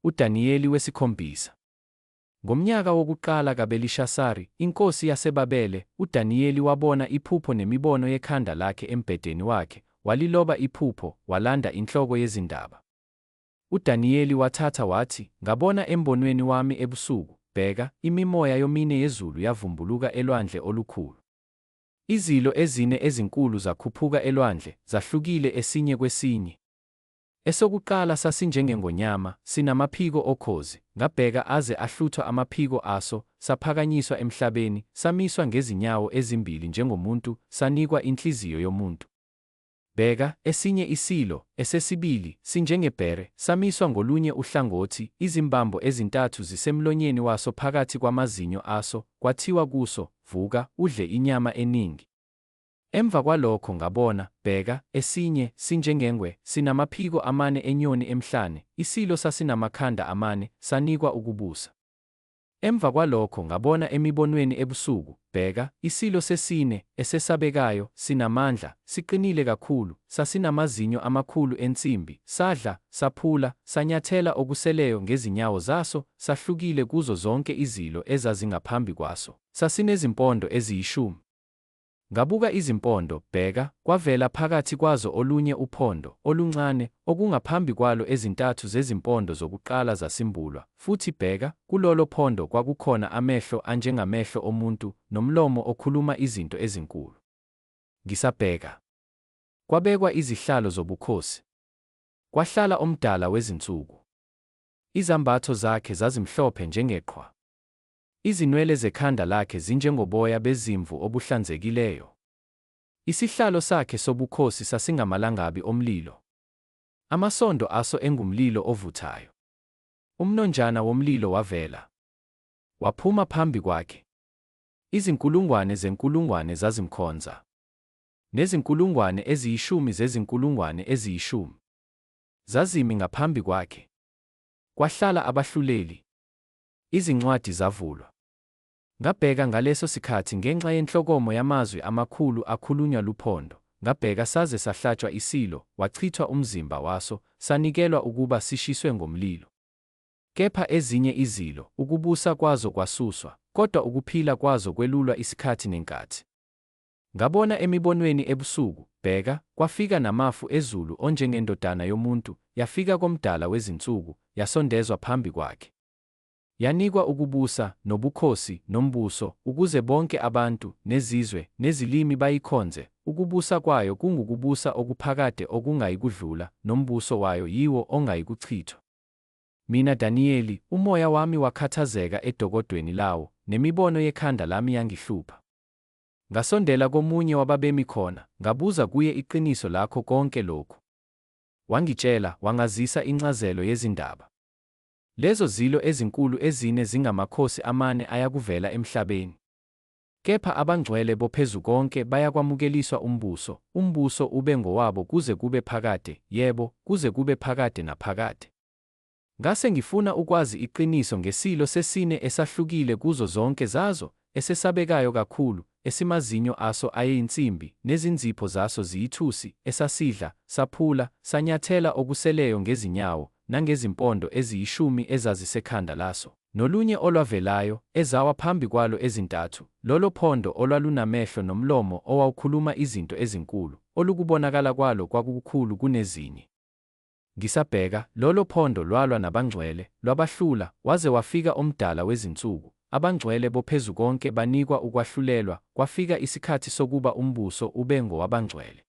UDaniyeli wesikhombisa. Ngomnyaka wokuqala kaBelishasari, inkosi yaseBabele, uDaniyeli wabona iphupho nemibono yekhanda lakhe embhedeni wakhe, waliloba iphupho, walanda inhloko yezindaba. UDaniyeli wathatha wathi, Ngabona embonweni wami ebusuku, bheka, imimoya yomine yezulu yavumbuluka elwandle olukhulu. Izilo ezine ezinkulu zakhuphuka elwandle, zahlukile esinye kwesinye. Esokuqala sasinjengengonyama, sinamaphiko okhozi, ngabheka aze ahluthwa amaphiko aso, saphakanyiswa emhlabeni, samiswa ngezinyawo ezimbili njengomuntu, sanikwa inhliziyo yomuntu. Bheka, esinye iSilo, esesibili, sinjengebhere, samiswa ngolunye uhlangothi, izimbambo ezintathu zisemlonyeni waso phakathi kwamazinyo aso, kwathiwa kuso, Vuka, udle inyama eningi. Emva kwalokho ngabona, bheka, esinye, sinjengengwe, sinamaphiko amane enyoni emhlane, iSilo sasinamakhanda amane, sanikwa ukubusa. Emva kwalokho ngabona emibonweni ebusuku, bheka, isilo sesine, esesabekayo, sinamandla, siqinile kakhulu, sasinamazinyo amakhulu ensimbi, sadla, saphula, sanyathela okuseleyo ngezinyawo zaso, sahlukile kuzo zonke izilo ezazingaphambi kwaso, sasinezimpondo eziyishumi. Ngabuka izimpondo, bheka, kwavela phakathi kwazo olunye uphondo, oluncane, okungaphambi kwalo ezintathu zezimpondo zokuqala zasimbulwa, futhi bheka, kulolo phondo kwakukhona amehlo anjengamehlo omuntu, nomlomo okhuluma izinto ezinkulu. Ngisabheka. Kwabekwa izihlalo zobukhosi. Kwahlala oMdala wezinsuku. Izambatho zakhe zazimhlophe njengeqhwa. Izinwele zekhanda lakhe zinjengoboya bezimvu obuhlanzekileyo. Isihlalo sakhe sobukhosi sasingamalangabi omlilo, amasondo aso engumlilo ovuthayo. Umnonjana womlilo wavela, waphuma phambi kwakhe. Izinkulungwane zenkulungwane zazimkhonza, nezinkulungwane eziyishumi zezinkulungwane eziyishumi zazimi ngaphambi kwakhe. Kwahlala abahluleli, Izincwadi zavulwa. Ngabheka ngaleso sikhathi ngenxa yenhlokomo yamazwi amakhulu akhulunywa luphondo, ngabheka saze sahlatshwa isilo, wachithwa umzimba waso, sanikelwa ukuba sishiswe ngomlilo. Kepha ezinye izilo, ukubusa kwazo kwasuswa, kodwa ukuphila kwazo kwelulwa isikhathi nenkathi. Ngabona emibonweni ebusuku, bheka, kwafika namafu ezulu onjengendodana yomuntu, yafika koMdala wezinsuku, yasondezwa phambi kwakhe. Yanikwa ukubusa, nobukhosi, nombuso, ukuze bonke abantu, nezizwe, nezilimi bayikhonze, ukubusa kwayo kungukubusa okuphakade okungayikudlula, nombuso wayo yiwo ongayikuchithwa. Mina Daniyeli, umoya wami wakhathazeka edokodweni lawo, nemibono yekhanda lami yangihlupha. Ngasondela komunye wababemi khona, ngabuza kuye iqiniso lakho konke lokhu. Wangitshela, wangazisa incazelo yezindaba. Lezo zilo ezinkulu ezine zingamakhosi amane ayakuvela emhlabeni. Kepha abangcwele boPhezukonke bayakwamukeliswa umbuso, umbuso ube ngowabo kuze kube phakade, yebo, kuze kube phakade naphakade. Ngase ngifuna ukwazi iqiniso ngeSilo sesine esahlukile kuzo zonke zazo, esesabekayo kakhulu, esimazinyo aso ayeyinsimbi, nezinzipho zaso ziyithusi, esasidla, saphula, sanyathela okuseleyo ngezinyawo, nangezimpondo eziyishumi ezazisekhanda laso, nolunye olwavelayo, ezawa phambi kwalo ezintathu, lolo phondo olwalunamehlo nomlomo owawukhuluma izinto ezinkulu, olukubonakala kwalo kwakukukhulu kunezinye. Ngisabheka, lolo phondo lwalwa nabangcwele, lwabahlula, waze wafika oMdala wezinsuku, abangcwele boPhezukonke banikwa ukwahlulelwa, kwafika isikhathi sokuba umbuso ube ngowabangcwele.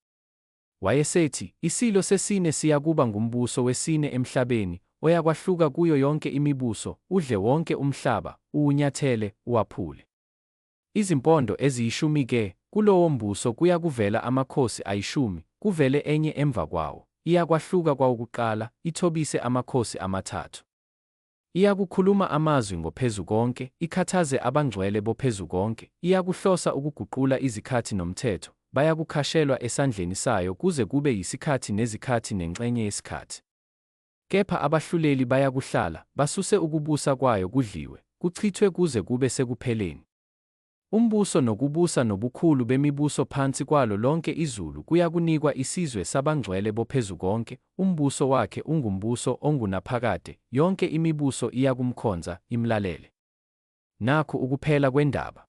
Wayesethi, Isilo sesine siyakuba ngumbuso wesine emhlabeni, oyakwahluka kuyo yonke imibuso, udle wonke umhlaba, uwunyathele, uwaphule. Izimpondo eziyishumi ke, kulowo mbuso kuyakuvela amakhosi ayishumi, kuvele enye emva kwawo, iyakwahluka kwawokuqala, ithobise amakhosi amathathu. Iyakukhuluma amazwi ngoPhezukonke, ikhathaze abangcwele boPhezukonke, iyakuhlosa ukuguqula izikhathi nomthetho, bayakukhashelwa esandleni sayo kuze kube yisikhathi nezikhathi nenxenye yesikhathi. Kepha abahluleli bayakuhlala, basuse ukubusa kwayo kudliwe, kuchithwe kuze kube sekupheleni. Umbuso nokubusa nobukhulu bemibuso phansi kwalo lonke izulu kuyakunikwa isizwe sabangcwele boPhezukonke, umbuso wakhe ungumbuso ongunaphakade, yonke imibuso iyakumkhonza, imlalele. Nakhu ukuphela kwendaba.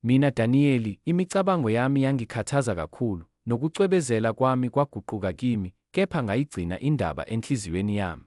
Mina Daniyeli, imicabango yami yangikhathaza kakhulu, nokucwebezela kwami kwaguquka kimi, kepha ngayigcina indaba enhliziyweni yami.